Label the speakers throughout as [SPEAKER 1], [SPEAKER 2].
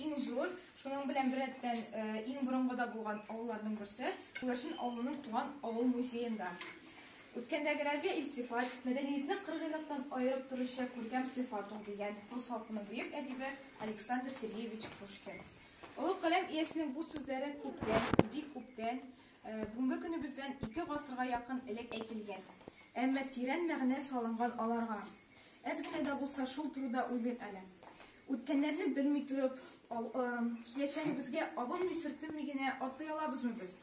[SPEAKER 1] Иң зур, шуның белән беррәттән иң борынгыда булган авылларның берсе, Күгәрчен авылының туган авыл музеенда. Үткәндәгеләргә илтифат, мәдәниятне кыргыйлыктан аерып торучы күркәм сыйфат ул, дигән рус халкының бөек әдибе Александр Сергеевич Пушкин. Олы каләм иясенең бу сүзләре күптән, бик күптән, бүгенге көнебездән ике гасырга якын элек әйтелгән. Әмма тирән мәгънә салынган аларга. Әз генә дә булса шул турыда уйлыйк әле. Үткәннәрне белми торып, киләчәгебезгә абынмый-сөртенми генә атлый алабызмы без?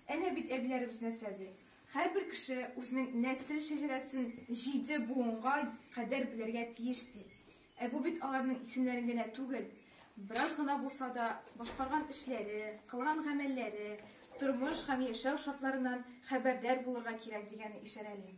[SPEAKER 1] Әнә бит әбиләребез нәрсә ди. Һәрбер кеше үзенең нәсел шәҗәрәсен җиде буынга кадәр белергә тиеш ди. Ә бу бит аларның исемнәрен генә түгел, бераз гына булса да башкарган эшләре, кылган гамәлләре, тормыш һәм яшәү шартларыннан хәбәрдар булырга кирәк дигәне ишарәли.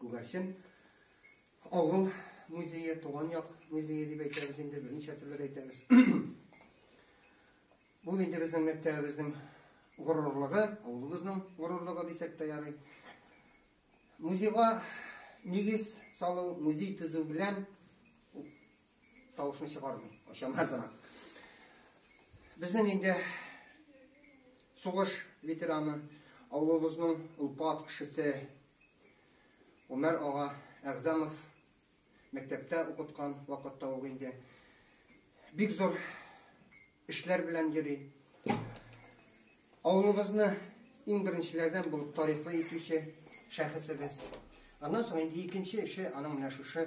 [SPEAKER 2] Күгәрчен авыл музее, туган як музее дип әйтәбез инде, берничә төрле әйтәбез. Ул инде безнең мәктәбебезнең горурлыгы, авылыбызның горурлыгы дисәк тә ярый. Музейга нигез салу, музей төзү белән Тавышны чыгармый, очама тора. Безнең инде сугыш ветераны, авылыбызның улпат кешесе Умәр ага Әгъзамов мәктәптә укыткан вакытта ул инде бик зур эшләр белән йөри. Авылыбызны иң беренчеләрдән булып тарихлы итүче шәхесебез. Аннан соң инде икенче эше аның менә шушы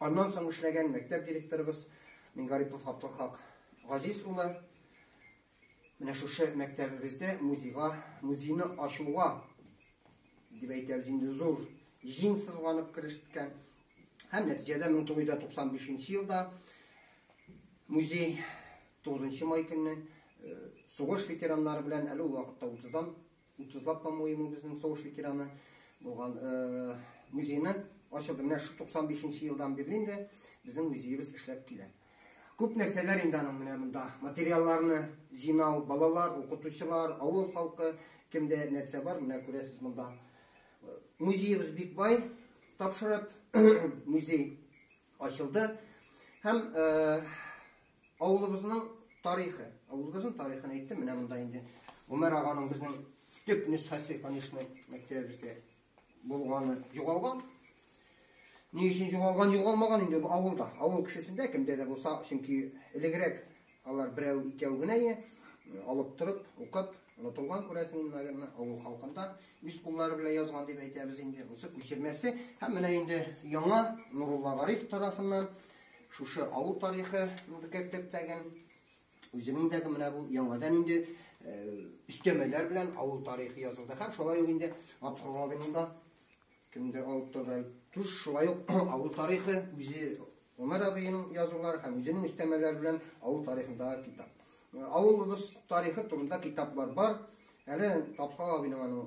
[SPEAKER 2] Аннан соң эшләгән мәктәп директорыбыз Мингарипов Габдулхак Газиз улы менә шушы мәктәбебездә музейга, музейны ачуга дип әйтәбез инде зур җиң сызганып керешкән. Һәм нәтиҗәдә 1995 елда музей 9 май көнне сугыш ветераннары белән әле ул вакытта 30-дан Утызлап по-моему безнең сугыш ветераны булган музейны ачылды. Менә шу 95 нче елдан бирле инде безнең музеебез эшләп килә. Күп нәрсәләр инде аның менә монда материалларны җыйнау, балалар, укытучылар, авыл халкы, кемдә нәрсә бар, менә күрәсез монда. Музеебыз бик бай, тапшырып музей ачылды. Һәм Авылыбызның тарихы. Авылыбызның тарихын әйттем, менә монда инде Гомәр аганың безнең төп нөсхәсе, конечно, мәктәбебездә булганы югалган. Ни өчен югалган, югалмаган инде ул авылда. Авыл кешесендә кемдә дә булса, чөнки элегрәк алар берәү икәү генә е, алып торып, укып, онытылган күрәсең инде, наверное, авыл халкында үз куллары белән язган дип әйтәбез инде. Бусы күчермәсе һәм менә инде яңа Нурулла Гариф тарафыннан Шушы авыл тарихы булды керттек тәген. Үзенең дә менә бу яңадан инде э, өстәмәләр белән авыл тарихы язылды. Һәм шулай ук инде Абдулгавинның да кемдер алып торды. Туш шулай ук авыл тарихы үзе Умар абыйның язулары һәм үзенең өстәмәләре белән авыл тарихындагы китап. Э, авылыбыз тарихы турында китаплар бар. Әле Тапкал абыйның